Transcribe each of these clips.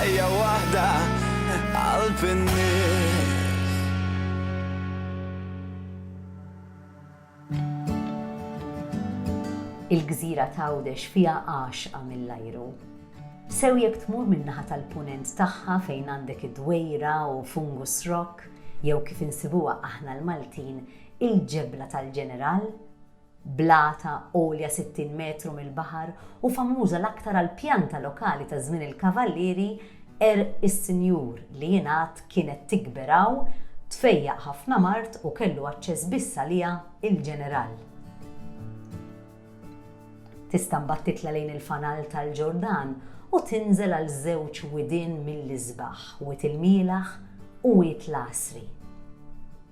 Ħajja waħda qalb in-nies. Il-gżira t'Għawdex fiha għaxqa mill-ajru. Sew jekk tmur min-naħa tal-Punent tagħha fejn għandek id-Dwejra u Fungus Rock jew kif insibuha aħna l-Maltin il-Ġebla tal-Ġeneral, bl-għata għolja 60 metru mill-baħar u famuża l-aktar għall-pjanta lokali ta' żmien il-Kavallieri, għerq is-Sinjur, li jingħad kienet tikber hawn, tfejjaq ħafna mard u kellu aċċess biss għaliha il-Ġeneral. Tista' mbagħad titla' lejn il-fanal tal-Ġordan u tinżel għal żewġ widien mill-isbaħ, Wied il-Mielaħ u Wied l-Għasri.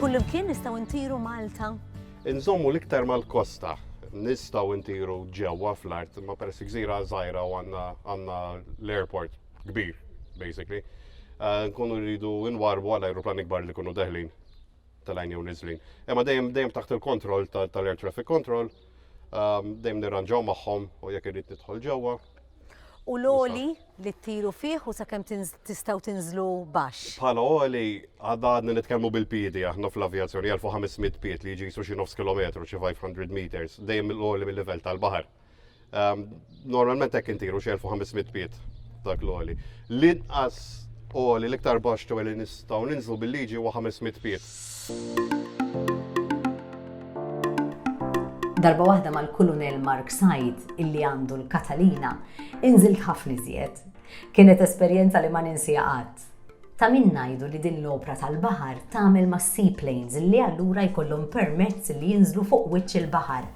Kullimkien nistgħu ntiru Malta? Inżommu l-iktar mal-kosta nistaw intiru ġewwa fl-art, ma peress gżira żgħira u għandna l-airport kbir, basically. Eh, nkunu rridu nwarbu għal aeroplan ikbar li kunu deħlin tal-għajn jew nizlin. Imma dejjem dejjem taħt il-kontroll tal-air traffic control Ehm, dejjem nirranġaw magħhom u jekk irrid nidħol ġewwa. U l-oli li ttiru fih u sakemm tistgħu tinżlu baxx. Bħala oli għadha għadna nitkellmu bil-piedi aħna fl-avjazzjoni 1500 pied li jiġi jisu xi nofs kilometru xi 500 meters dejjem l-oli mill-livell tal-baħar. Ehm, Normalment hekk intiru xi 1500 piet dak l-oli. L-inqas oli l-iktar baxx ġewwa li nistgħu ninżlu bil-liġi huwa 500 piet. Darba waħda mal-Kulunell Mark Said, illi għandu l-Katalina, inżilt ħafna iżjed. Kienet esperjenza li ma ninsiha qatt. Ta' min ngħidu li din l-opra tal-baħar tagħmel mas-seaplanes li allura jkollhom permezz li jinżlu fuq wiċċ il-baħar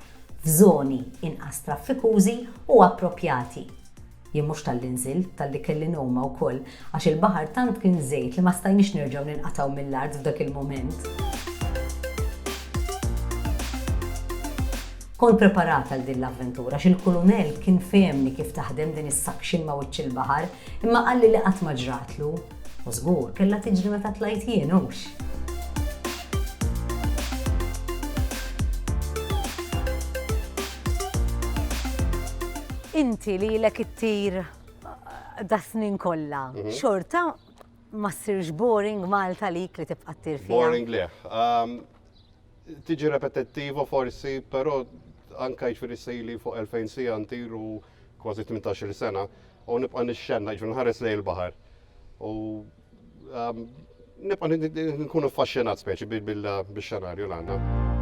f'żoni inqas traffikużi u approprjati. Jien mhux talli nżilt, talli kelli noma wkoll, għax il-baħar tant kien żejt li ma stajniex nerġgħu ninqatgħu mill-art f'dak il-mument. Kont preparat għal din l-avventura għax il-Kulunell kien fehemni kif taħdem din is-suction ma' wiċċ il-baħar, Imma qalli li qatt ma ġratlu. U żgur, kellha tiġri meta tlajt jien, hux? Inti li ilek ittir das-snin kollha, xorta ma ssirx boring Malta għalik li tibqa' ttir fiha? Boring le. Tiġi repetittiva forsi, però anke jiġifieri sejli fuq 2,000 siegħa ntir u kważi 18-il sena, u nibqa' nixxenna, jiġifieri nħares lejn il-baħar. U ehm, nibqa' nkun affaxxinat speċi bil-xenarju l għandna.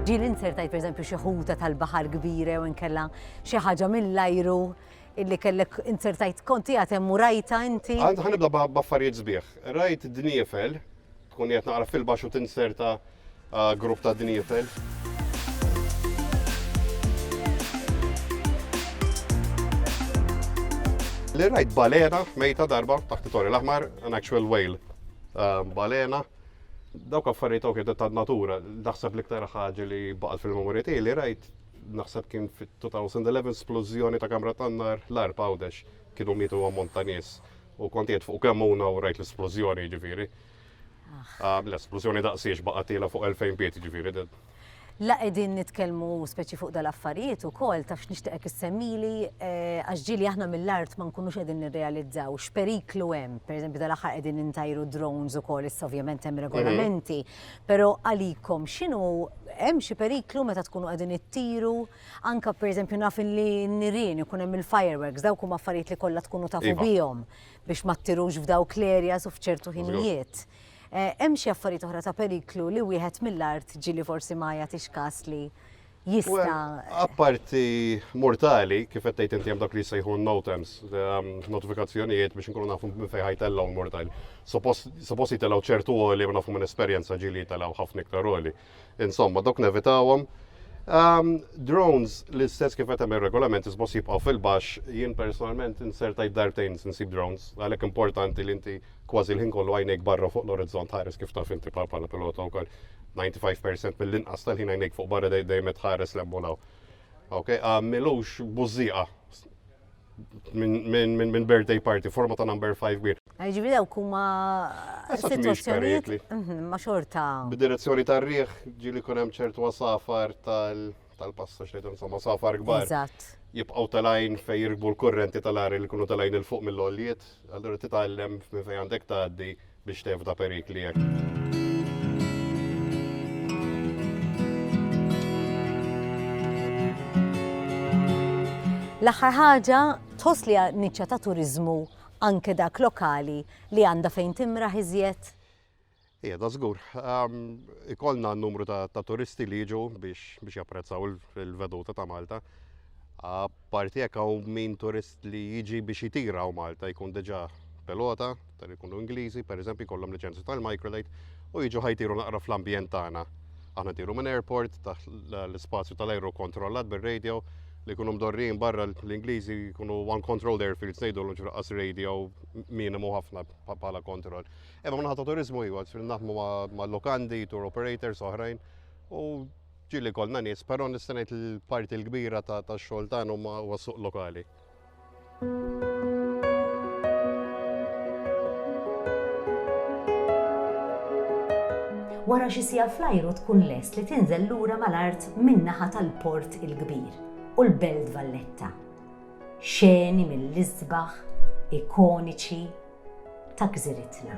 Ġi l-insertajt per eżempju xi ħuta tal-baħar kbira u nkella xi ħaġa mill-ajru illi kellek insertajt konti għatem u rajta inti. Għand ħanibda b'affarijiet sbieħ. Rajt dniefel Tkun qed naqra fil-baxx u tinserta grupp ta' dniefer. Li rajt balena mejta darba taħt it-torri l-aħmar, an actual whale. Balena, dawk affarijiet ok ta' natura, naħseb l-iktar ħaġa li baqgħet fil-memorja tiegħi li rajt naħseb kien fit-2011 splużjoni ta' kamra tan-nar l-arb għawdex kienu mietu ammont ta' nies. U kont qiegħed fuq kemmuna u rajt l-isplużjoni, jiġifieri. Ah, l-esplużjoni daqsiex baqa' tiela fuq 2000 pied jiġifieri. La qegħdin nitkellmu speċi fuq dal-affarijiet ukoll taf x'nixtieqek issemmili eh, għax ġieli aħna mill-art ma nkunux qegħdin nirrealizzaw x'periklu hemm. Pereżempju dal-aħħar qegħdin intajru drones ukoll issa ovvjament hemm regolamenti, mhm. però għalikom x'inhu hemm xi periklu meta tkunu qegħdin ittiru? Anke pereżempju naf li n-nirien ikun hemm il-fireworks, dawk huma affarijiet li kollha tkunu tafu iva. bihom biex ma ttirux f'dawk l-areas u f'ċertu ħinijiet. Eh, hemm xi affarijiet oħra ta' periklu li wieħed mill-art ġili forsi ma jagħtix kas li jista. Apparti mortali, kif qed tgħid inti hemm dak li jsejħu notems, ehm, notifikazzjonijiet biex inkunu nafu minn fejn ħajtellgħu mortali. Suppost jitellgħu ċertu għoli ma nafu minn esperjenza ġili jitellgħu ħafna iktar għoli. Insomma, dok nevitawhom. Um, drones l-istess kif qed hemm regolament isbos jibqgħu fil-baxx, jien personalment insertajt darbtejn nsib drones, għalhekk importanti li inti kważi l-ħin kollu għajnejk barra fuq l-orizzont ħares kif taf inti bħala pilota wkoll 95% mill-inqas tal-ħin għajnejk fuq barra dejjem tħares l-emmolaw. Ok, għamilux bużieqa minn birthday party, forma ta' number 5 bir. Ġivi daw kuma situazzjonijiet mhm, ma xorta. B'direzzjoni ta' riħ ġili kunem ċertu għasafar tal-pasta xejtu insomma safar gbar. Eżatt. Jibqaw tal-ajn fej jirbu l-kurrenti tal-għar li kunu tal-ajn il-fuq mill-oljiet, għallura titgħallem minn fej għandek tgħaddi biex tevta perikli hekk. L-aħħar ħaġa tħoss li niċċa ta' turizmu anke dak lokali li għandha fejn timra iżjed? Ija, da żgur. Ikollna n-numru ta' turisti li jiġu biex japprezzaw il-veduta ta' Malta. Apparti hekk hawn min turist li jiġi biex jitira hawn Malta jkun diġà pilota, ta' li jkunu Ingliżi, pereżempju jkollhom liċenzja tal-microlight u jiġu ħajtiru naqra fl-ambjent tagħna. Aħna tiru minn airport taħt l-ispazju tal-ajru kontrollat bir-radio li jkunu mdorrin barra l-Ingliżi jkunu one controlled airfields ngħidu l ġraqqas radio minimu ħafna bħala kontroll. Imma minn ħadd turizmu iwa, naħdmu ma' lokandi, tour operators oħrajn u Ġieli jkollna nies, però nista' ngħid li l-parti l-kbira tax-xogħol tagħna huma huwa suq lokali. Wara xi siegħa fl-ajru tkun lest li tinżel lura mal-art min-naħa tal-Port il-Kbir u l-Belt Valletta. Xeni mill-isbaħ, ikoniċi, ta' gżiritna.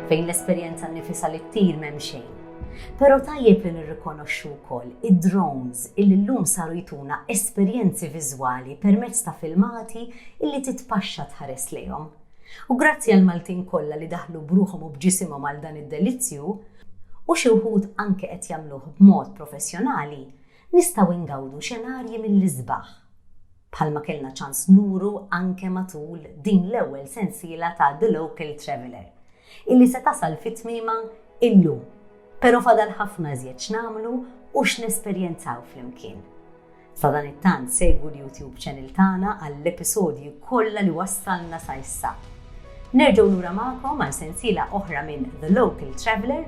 Fejn l-esperjenza nnifisha li ttir m'hemm xejn. Però tajjeb li nirrikonoxxu wkoll id-drones illi llum saru jtuna esperjenzi viżwali permezz ta' filmati illi titpaxxa tħares lejhom. U grazzi għall-Maltin kollha li daħlu b'ruħhom u b'ġisimhom għal dan id-delizzju, u xi wħud anke qed jagħmluh b'mod professjonali, nistgħu ngawdu xenarji mill-isbaħ. bħalma kellna ċans nuru anke matul din l-ewwel sensiela ta' The Local Traveller, illi se tasal fi tmiemha illum, pero' fadal ħafna iżjed x'nagħmlu u x'nesperjenzaw flimkien. Sadanittant segwu l-YouTube channel tagħna għall-episodji kollha li wassalna sa issa. Nerġgħu lura magħkom għal sensiela oħra minn The Local Traveller